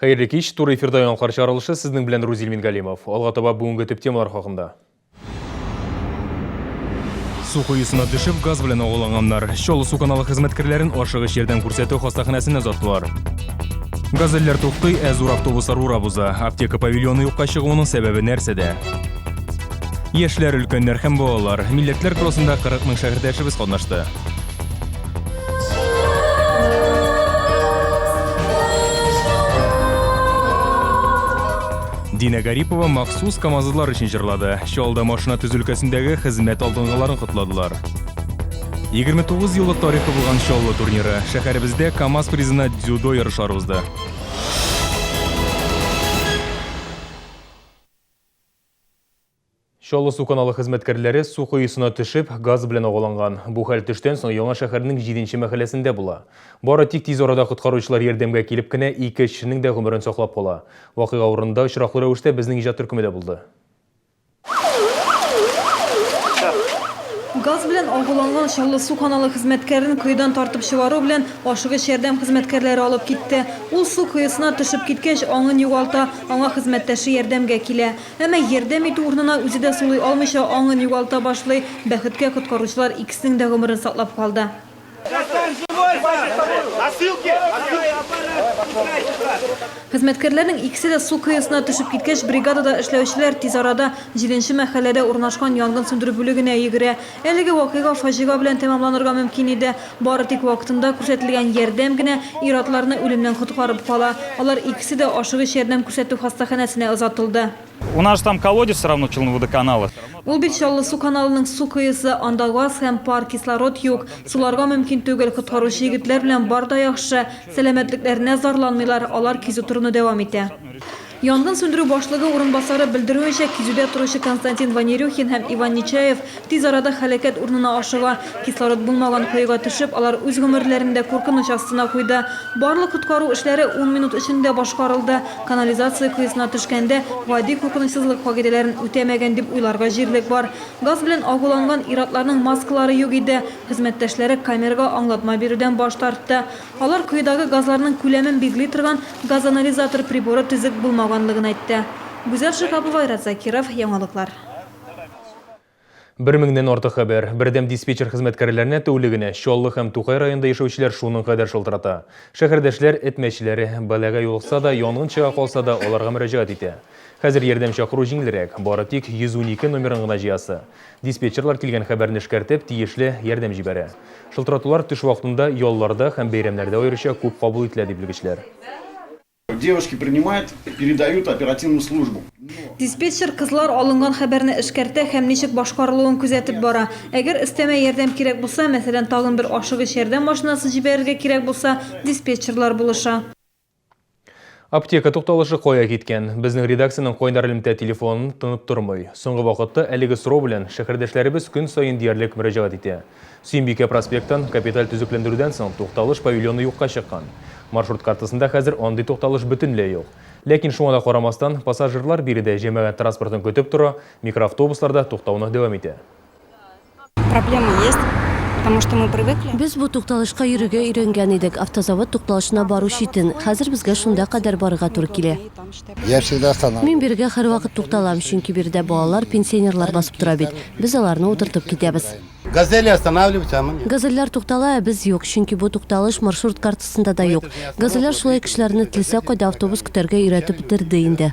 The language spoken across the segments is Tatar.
Хәерле кич, туры эфирда яңалыклар чаралышы сезнең белән Рузил Мингалимов. Алга таба бүгенге төп темалар хакында. Су коюсына төшеп, газ белән агуланганнар. Чаллы су каналы хезмәткәрләрен ашыгыч ярдәм күрсәтү хастаханәсенә озаттылар. Газельләр туктый, ә зур автобуслар урап уза. Аптека павильоны юкка чыгуының сәбәбе нәрсәдә? Яшьләр, өлкәннәр һәм балалар. Милләтләр кроссында 40 мең шәһәрдәшебез катнашты. Динә Гарипова махсус камазлар өчен җырлады. Чалда машина төзү өлкәсендәге хезмәт алдынгыларын котладылар. 29 еллык тарихы булган Чаллы турниры шәһәребездә КАМАЗ призына дзюдо ярышлары узды. Чаллы су каналы хезмәткәрләре су коесына төшеп, газ белән агаланган. Бу хәл төштән соң Яңа шәһәрнең җиденче мәхәлләсендә була. Бары тик тиз арада коткаручылар ярдәмгә килеп кенә ике эшченең дә гомерен саклап кала. Вакыйга урынында очраклы рәвештә безнең иҗат төркеме дә булды. Газ белән агуланган Чаллы су каналы хезмәткәрен коедан тартып чыгару белән ашыгыч ярдәм хезмәткәрләре алып китте. Ул су коесына төшеп киткәч, аңын югалта, аңа хезмәттәше ярдәмгә килә. Әмма ярдәм итү урынына үзе дә сулый алмыйча аңын югалта башлый. Бәхеткә, коткаручылар икесенең дә гомерен саклап калды. Хезмәткәрләрнең икесе дә су кыюсына төшеп киткәч, бригадада эшләүчеләр тиз арада җиденче мәхәлләдә урнашкан янгын сүндерү бүлегенә йөгерә. Әлеге вакыйга фаҗига белән тәмамланырга мөмкин иде. Бары тик вакытында күрсәтелгән ярдәм генә ир-атларны үлемнән коткарып кала. Алар икесе дә ашыгыч ярдәм күрсәтү хастаханәсенә озатылды. У нас же там колодец все равно челнводоканала. Ул бит Чаллы су каналының су коесы, анда газ һәм пар, кислород юк. Суларга мөмкин түгел, коткаручы егетләр белән бар да яхшы, сәламәтлекләренә зарланмыйлар, алар кизү торуны дәвам итә. Янгын сүндерү башлыгы урынбасары белдерүенчә, кизүдә торучы Константин Ванерюхин һәм Иван Нечаев тиз арада һәлакәт урынына ашыга. Кислород булмаган коега төшеп, алар үз гомерләрен дә куркыныч астына куйды. Барлык коткару эшләре ун минут эчендә башкарылды. Канализация коесына төшкәндә, гади куркынычсызлык кагыйдәләрен үтәмәгән дип уйларга җирлек бар. Газ белән агуланган ир-атларның маскалары юк иде. Хезмәттәшләре камерага аңлатма бирүдән баш тартты. Алар коедагы газларның күләмен билгели торган газоанализатор приборы төзек булмаганлыгын әйтте. Гүзәл Шиһапова, Айрат Закиров, Яңалыклар. Бер меңнән артык хәбәр, бердәм диспетчер хезмәткәрләренә тәүлегенә Чаллы һәм Тукай районында яшәүчеләр шуның кадәр шылтырата. Шәһәрдәшләр, эт мәчеләре, балага юлыкса да, янгын чыга калса да, аларга мөрәҗәгать итә. Хәзер ярдәм чакыру җиңелрәк, бары тик 112 номерын гына җыясы. Диспетчерлар килгән хәбәрне эшкәртеп, тиешле ярдәм җибәрә. Шылтыратулар төш вакытында, ялларда һәм бәйрәмнәрдә аеруча күп кабул ителә, ди белгечләр. Девушки принимают, передают оперативную службу. Диспетчер кызлар алынган хәбәрне эшкәртә һәм ничек башкарылуын күзәтеп бара. Әгәр өстәмә ярдәм кирәк булса, мәсәлән, тагын бер ашыгыч ярдәм машинасы җибәрергә кирәк булса, диспетчерлар булыша. Аптека тукталышы кая киткән? Безнең редакциянең кайнар элемтә телефонын тынып тормый. Соңгы вакытта әлеге сорау белән шәһәрдәшләребез көн саен диярлек мөрәҗәгать итә. Сөембикә проспектын капиталь төзекләндерүдән соң тукталыш павильоны юкка чыккан. Маршрут картасында хәзер андый тукталыш бөтенләй юк. Ләкин шуңа да карамастан, пассажирлар биредә җәмәгать транспортын көтеп тора, микроавтобуслар да туктауны дәвам итә. Без бу тукталышка йөрергә өйрәнгән идек, автозавод тукталышына бару читен. Хәзер безгә шунда кадәр барырга туры килә. Мин бирегә һәрвакыт тукталам, чөнки биредә балалар, пенсионерлар басып тора бит. Без аларны утыртып китәбез. Газельләр туктала, ә без юк, чөнки бу тукталыш маршрут картасында да юк. Газельләр шулай кешеләрне теләсә кайда автобус көтәргә өйрәтеп бетерде инде.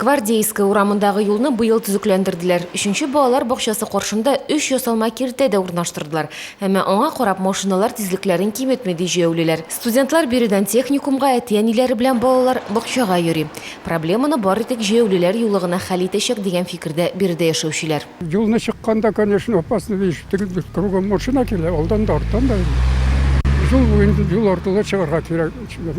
Гвардейская урамындагы юлны быел төзекләндерделәр. Өченче балалар бакчасы каршында өч ясалма киртә дә урнаштырдылар. Әмма аңа карап машиналар тизлекләрен киметми, ди җәяүлеләр. Студентлар биредән техникумга, әти-әниләре белән балалар бакчага йөри. Проблеманы бары тик җәяүлеләр юлы гына хәл итәчәк, дигән фикердә биредә яшәүчеләр. Юлны чыкканда, конечно, опасно, ди, ишетегездер, кругом машина килә, алдан да, арттан да. Юл буенда, юл аркылы чыгарга кирәк,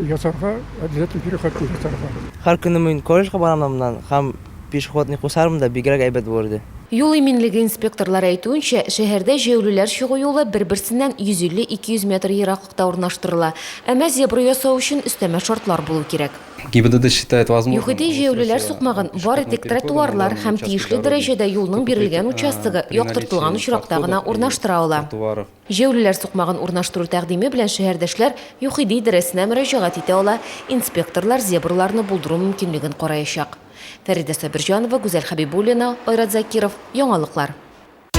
ясарга, обязательно переход ясарга. Һәр көнне мин колледжга барам да моннан һәм пешеходный кусарым да бигрәк әйбәт булыр иде. Юл иминлеге инспекторлары әйтүенчә, шәһәрдә җәяүлеләр чыгу юлы бер-берсеннән 150-200 метр ераклыкта урнаштырыла. Әмма зебра ясау өчен өстәмә шартлар булу кирәк. ЮХИДИ җәяүлеләр сукмагын бары тик тротуарлар һәм тиешле дәрәҗәдә юлның бирелгән участогы яктыртылган очракта гына урнаштыра ала. Җәүлеләр сукмагын урнаштыру тәкъдиме белән шәһәрдәшләр ЮХИДИ идарәсенә мөрәҗәгать итә ала, инспекторлар зебраларны булдыру мөмкинлеген караячак. Фәридә Сабирҗанова, Гүзәл Хәбибуллина, Айрат Закиров, Яңалыклар.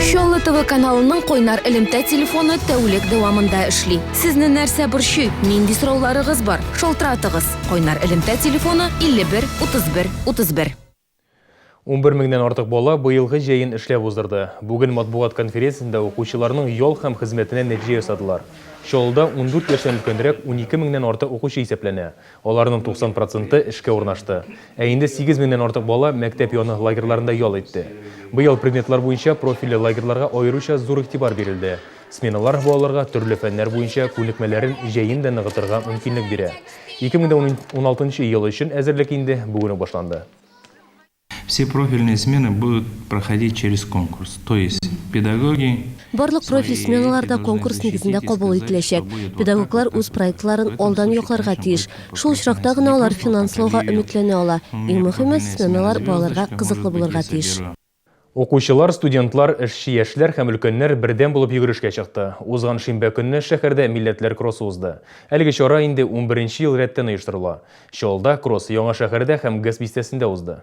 Чаллы ТВ каналының кайнар элемтә телефоны тәүлек дәвамында эшли. Сезне нәрсә борчый, нинди сорауларыгыз бар? Шалтыратыгыз! Кайнар элемтә телефоны, 51 31 31. Унбер меңнән артык бала быелгы җәен эшләп уздырды. Бүген матбугат конференциясендә укучыларның ял һәм хезмәтенә нәтиҗә ясадылар. Чаллыда ундүрт яшьтән өлкәнрәк унике меңнән артык укучы исәпләнә, аларның 90 проценты эшкә урнашты. Ә инде сигез меңнән артык бала мәктәп яны лагерьларында ял итте. Быел предметлар буенча профильле лагерьларга аеруча зур игътибар бирелде. Сменалар балаларга төрле фәннәр буенча күнекмәләрен җәен дә ныгытырга мөмкинлек бирә. 2016 ел өчен әзерлек инде бүген үк башланды. Все профильные смены будут проходить через конкурс, то есть педагоги, Барлык профиль сменалар да конкурс нигезендә кабул ителәчәк. Педагоглар үз проектларын алдан якларга тиеш. Шул очракта гына алар финанслауга өметләнә ала. Иң мөһиме, сменалар балаларга кызыклы булырга тиеш. Укучылар, студентлар, эшче яшьләр һәм өлкәннәр бердәм булып йөгерешкә чыкты. Узган шимбә көнне шәһәрдә Милләтләр кроссы узды. Әлеге чара инде унберенче ел рәттән оештырыла. Чаллыда кросс Яңа шәһәрдә һәм ГЭС бистәсендә узды.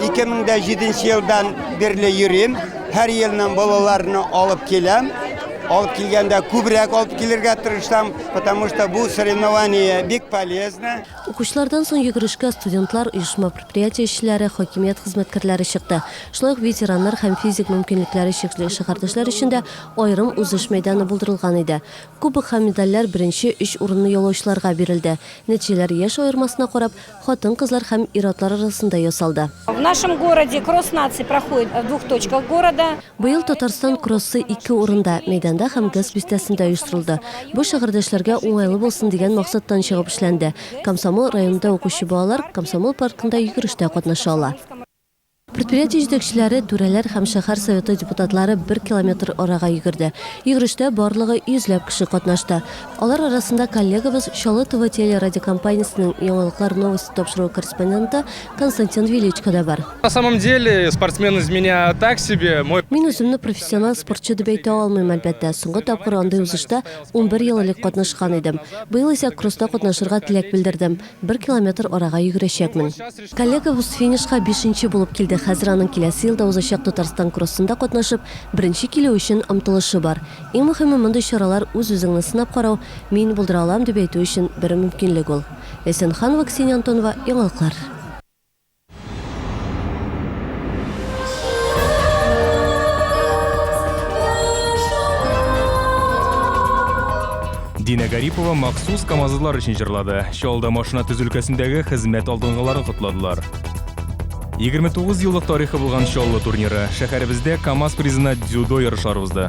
2007 елдан бирле йөрим. Һәр елның балаларны алып киләм. Алып килгәндә күбрәк алып килергә тырышам, потому что бу соревнование бик полезно. Укучылардан соң йөгерешкә студентлар, оешма предприятие эшчеләре, хакимият хезмәткәрләре чыкты. Шулай ук ветераннар һәм физик мөмкинлекләре чикле шәһәрдәшләр өчен дә аерым узыш мәйданы булдырылган иде. Кубок һәм медальләр беренче өч урынны яулаучыларга бирелде. Нәтиҗәләр яшь аермасына карап, хатын-кызлар һәм ир-атлар арасында ясалды. В нашем городе кросс наций проходит в двух точках города. Быел Татарстан кроссы ике урында, мәйданда һәм ГЭС бистәсендә оештырылды. Бу шәһәрдәшләргә уңайлы булсын дигән максаттан чыгып эшләнде. Комсомол районында укучы балалар Комсомол паркында йөгерештә катнаша ала. Предприятие җитәкчеләре, түрәләр һәм шәһәр советы депутатлары бер километр арага йөгерде. Йөгерештә барлыгы йөзләп кеше катнашты. Алар арасында коллегабыз, Чаллы ТВ телерадиокомпаниясенең Яңалыклар новости тапшыруы корреспонденты Константин Величко да бар. На самом деле, спортсмен из меня так себе, мой. Мин үземне профессиональ спортчы дип әйтә алмыйм, әлбәттә. Соңгы тапкыр андый узышта унбер ел элек катнашкан идем. Быел исә кросста катнашырга теләк белдердем. Бер километр арага йөгерәчәкмен. Коллегабыз финишка бишенче булып килде, хәзер аның киләсе елда узачак Татарстан кроссында катнашып, беренче килү өчен омтылышы бар. Иң мөһиме, мондый чаралар, үз-үзеңне сынап карау, мин булдыра алам, дип әйтү өчен бер мөмкинлек ул. Ләйсән Ханова, Ксения Антонова, Яңалыклар. Динә Гарипова махсус камазлар өчен җырлады. Чалда машина төз өлкәсендәге хезмәт алдынгыларын котладылар. 29 еллык тарихы булган Чаллы турниры шәһәребездә КАМАЗ призына дзюдо ярышлары узды.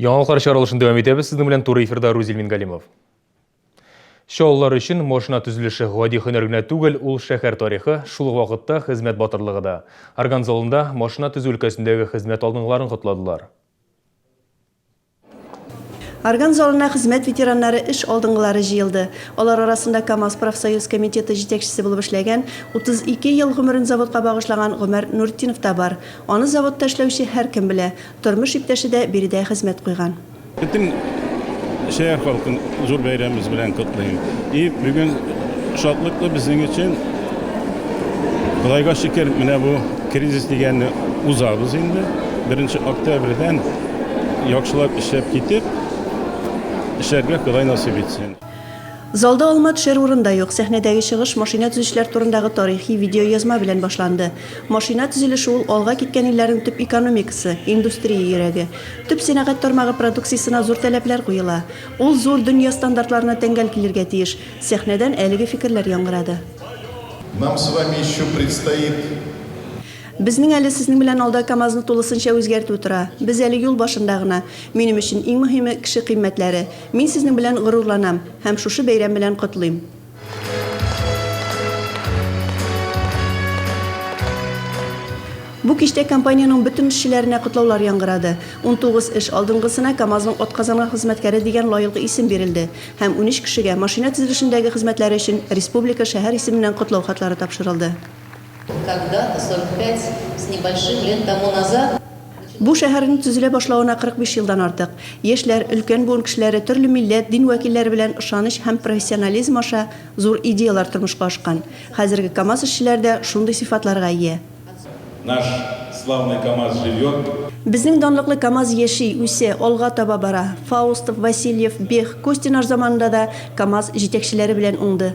Яңалыклар чаралышын дәвам итәбез. Сезнең белән туры эфирда Рузил Мингалимов. Чаллылар өчен машина төзелеше гади һөнәр генә түгел, ул шәһәр тарихы, шул ук вакытта хезмәт батырлыгы да. Орган залында машина төзү өлкәсендәге хезмәт алдынгыларын котладылар. Орган залына хезмәт ветераннары, эш алдынгылары җыелды. Алар арасында КАМАЗ профсоюз комитеты җитәкчесе булып эшләгән, 32 ел гомерен заводка багышлаган Гомәр Нуртдинов та бар. Аны заводта эшләүче һәркем белә. Тормыш иптәше дә биредә хезмәт куйган. Бөтен шәһәр халкын зур бәйрәмебез белән котлыйм. И бүген шатлыклы безнең өчен. Кодайга шөкер, менә бу кризис дигәнне узабыз инде. Беренче октябрьдән яхшылап эшләп китеп, эшләргә Кодай насыйп итсен. Залда алма төшәр урын да юк. Сәхнәдәге чыгыш машина төзүчеләр турындагы тарихи видеоязма белән башланды. Машина төзелеше ул, алга киткән илләрнең төп экономикасы, индустрия йөрәге. Төп сәнәгать тармагы продукциясенә зур таләпләр куела. Ул зур дөнья стандартларына тәңгәл килергә тиеш. Сәхнәдән әлеге фикерләр яңгырады. Нам с вами еще предстоит. Безнең әле сезнең белән алда КАМАЗны тулысынча үзгәртү тора. Без әле юл башында гына. Минем өчен иң мөһиме, кеше кыйммәтләре. Мин сезнең белән горурланам һәм шушы бәйрәм белән котлыйм. Бу кичтә компаниянең бөтен эшчеләренә котлаулар яңгырады. Унтугыз эш алдынгысына Камазның атказанган хезмәткәре дигән лаелгы исем бирелде һәм унөч кешегә машина төзелешендәге хезмәтләре өчен республика, шәһәр исеменнән котлау хатлары тапшырылды. Бу шәһәрнең төзелә башлавына 45 елдан артык. Яшьләр, өлкән буын кешеләре, төрле милләт, дин вәкилләре белән ышаныч һәм профессионализм аша зур идеяләр тормышка ашкан. Хәзерге КАМАЗ эшчеләре дә шундый сыйфатларга ия. Безнең данлыклы КАМАЗ яши, үсә, алга таба бара. Фаустов, Васильев, Бех, Костинар заманында да КАМАЗ җитәкчеләре белән уңды.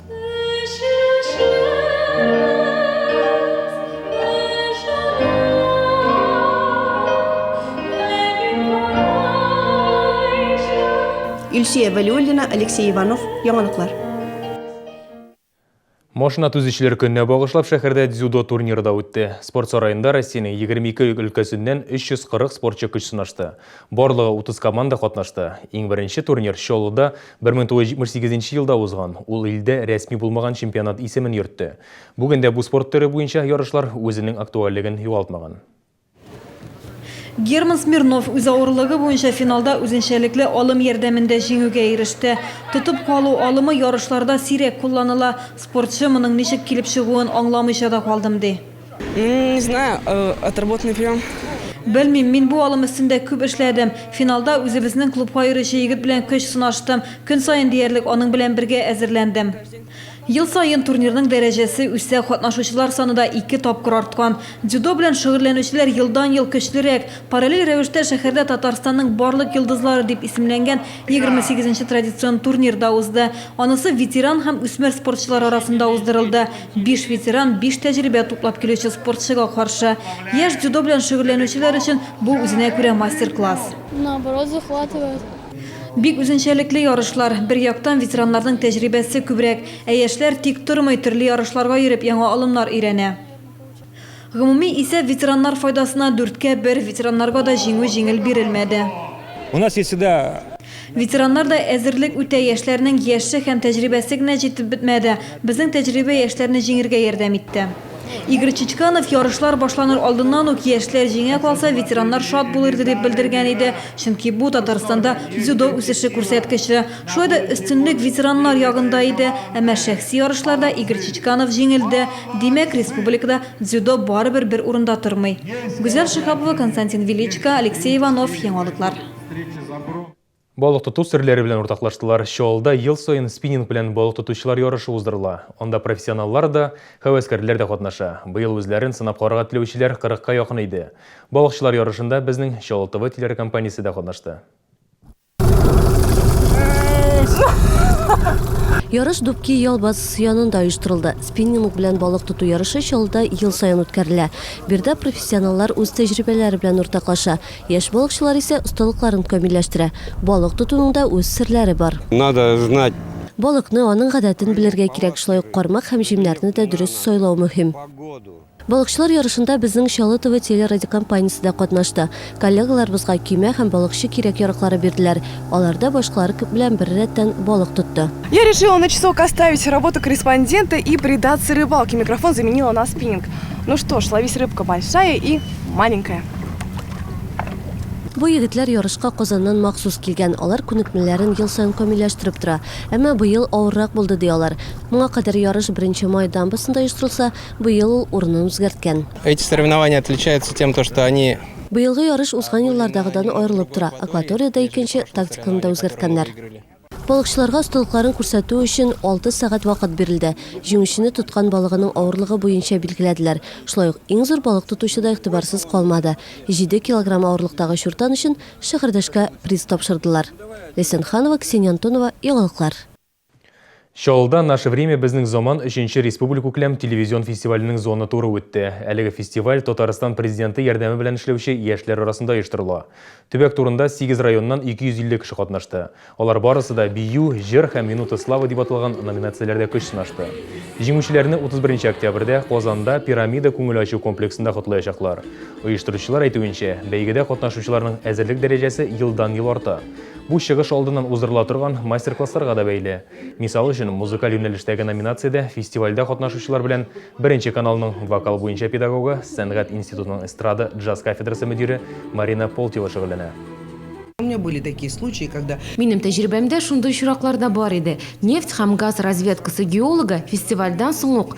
Илсөя Вәлиуллина, Алексей Иванов, Яңалыклар. Машина төзүчеләр көненә багышлап шәһәрдә дзюдо турниры да үтте. Спорт сараенда Россиянең 22 өлкәсеннән 340 спортчы көч сынашты. Барлыгы 30 команда катнашты. Иң беренче турнир Чаллыда 1978 нче елда узган ул илдә рәсми булмаган чемпионат исемен йөртте. Бүген дә бу спорт төре буенча ярышлар үзенең актуальлеген югалтмаган. Герман Смирнов үз авырлыгы буенча финалда үзенчәлекле алым ярдәмендә җиңүгә иреште. Тотып калу алымы ярышларда сирәк кулланыла. Спортчы моның ничек килеп чыгуын аңламыйча да калдым, ди. Не знаю, э, отработанный прием. Белмим, мин бу алым өстендә күп эшләдем. Финалда үзебезнең клубка йөрүче егет белән көч сынаштым. Көн саен диярлек аның белән бергә әзерләндем. Ел саен турнирның дәрәҗәсе үсә, катнашучылар саны да ике тапкыр арткан. Дзюдо белән шөгыльләнүчеләр елдан-ел көчлерәк. Параллель рәвештә шәһәрдә Татарстанның барлык йолдызлары дип исемләнгән 28 нче традицион турнир да узды. Анысы ветеран һәм үсмер спортчылар арасында уздырылды. Биш ветеран, биш тәҗрибә туплап килүче спортчыга каршы. Яшь дзюдо белән шөгыльләнүчеләр өчен бу үзенә күрә мастер-класс. Наоборот захватывает. Бик үзенчәлекле ярышлар. Бер яктан, ветераннарның тәҗрибәсе күбрәк. Ә яшьләр тик тормый, төрле ярышларга йөреп, яңа алымнар өйрәнә. Гомуми исәп ветераннар файдасына дүрткә бер, ветераннарга да җиңү җиңел бирелмәде. У нас есть всегда. Ветераннар да әзерлек үтә, яшьләрнең яше һәм тәҗрибәсе генә җитеп бетмәде, безнең тәҗрибә яшьләрне җиңергә ярдәм итте. Игорь Чичканов ярышлар башланыр алдыннан ук яшьләр җиңә калса, ветераннар шат булыр иде дип белдергән иде, чөнки бу, Татарстанда дзюдо үсеше күрсәткече. Шулай да өстенлек ветераннар ягында иде. Әмма шәхси ярышларда Игорь Чичканов җиңелде. Димәк, республикада дзюдо барыбер бер урында тормый. Гүзәл Шиһапова, Константин Величко, Алексей Иванов, Яңалыклар. Балык тоту серләре белән уртаклаштылар. Чаллыда ел саен спиннинг белән балык тотучылар ярышы уздырыла. Анда профессионаллар да, һәвәскәрләр дә катнаша. Быел үзләрен сынап карарга теләүчеләр 40 ка якын иде. Балыкчылар ярышында безнең Чаллы ТВ телеракомпаниясе дә катнашты. Ярыш Дубки ял базасы янында оештырылды. Спиннинг белән балык тоту ярышы Чаллыда ел саен үткәрелә. Биредә профессионаллар үз тәҗрибәләре белән уртаклаша, яшь балыкчылар исә осталыкларын камилләштерә. Балык тотуның да үз серләре бар. Надо знать Балыкны, аның гадәтен белергә кирәк, шулай ук кармак һәм җимнәрне дә дөрес сайлау мөһим. Балыкчылар ярышында безнең Чалытова телерадиокомпаниясе дә катнашты. Коллегаларыбызга көймә һәм балыкчы кирәк-яраклары бирделәр. Алар да башкалар белән бер рәттән балык тотты. Я решила на часок оставить работу корреспондента и предаться рыбалке, микрофон заменила на спиннинг. Ну что ж, ловись рыбка большая и маленькая. Бу егетләр ярышка Казаннан махсус килгән, алар күнекмәләрен ел саен камилләштереп тора. Әмма быел авыррак булды, ди алар. Моңа кадәр ярыш Беренче Май дамбасында оештырылса, Быел ул урынын үзгәрткән. Эти соревнования отличаются тем, то что они. Быелгы ярыш узган еллардагыдан аерылып тора, акваториядә икенче, тактиканы да үзгәрткәннәр. Балыкчыларга осталыкларын күрсәтү өчен алты сәгать вакыт бирелде. Җиңүчене тоткан балыгының авырлыгы буенча билгеләделәр. Шулай ук иң зур балык тотучы да игътибарсыз калмады. Җиде килограмм авырлыктагы чуртан өчен шәһәрдәшкә приз тапшырдылар. Ләйсән Ханова, Ксения Антонова, Яңалыклар. Чаллыда Наше время безнең заман өченче республикүкләм телевизион фестиваленең зона туры үтте. Әлеге фестиваль Татарстан Президенты ярдәме белән эшләүче яшьләр арасында оештырыла. Төбәк турында сигез районнан 250 кеше катнашты. Алар барысы да Бию, Җыр һәм Минута славы дип аталган номинацияләрдә көч сынашты. Җиңүчеләрне 31 нче октябрьдә Казанда Пирамида күңел ачу комплексында котлаячаклар. Оештыручылар әйтүенчә, бәйгедә катнашучыларның әзерлек дәрәҗәсе елдан-ел арта. Бу чыгыш алдыннан уздырыла торган мастер-классларга да бәйле. Мисал өчен, музыкаль юнәлештәге номинациядә фестивальдә катнашучылар белән Беренче каналның вокал буенча педагогы, Сәнгать институтының эстрада, джаз кафедрасы мөдире Марина Полтева шөгыльләнә. Минем тәҗрибәмдә шундый очраклар да бар иде. Нефть һәм газ разведкасы геологы фестивальдән соң ук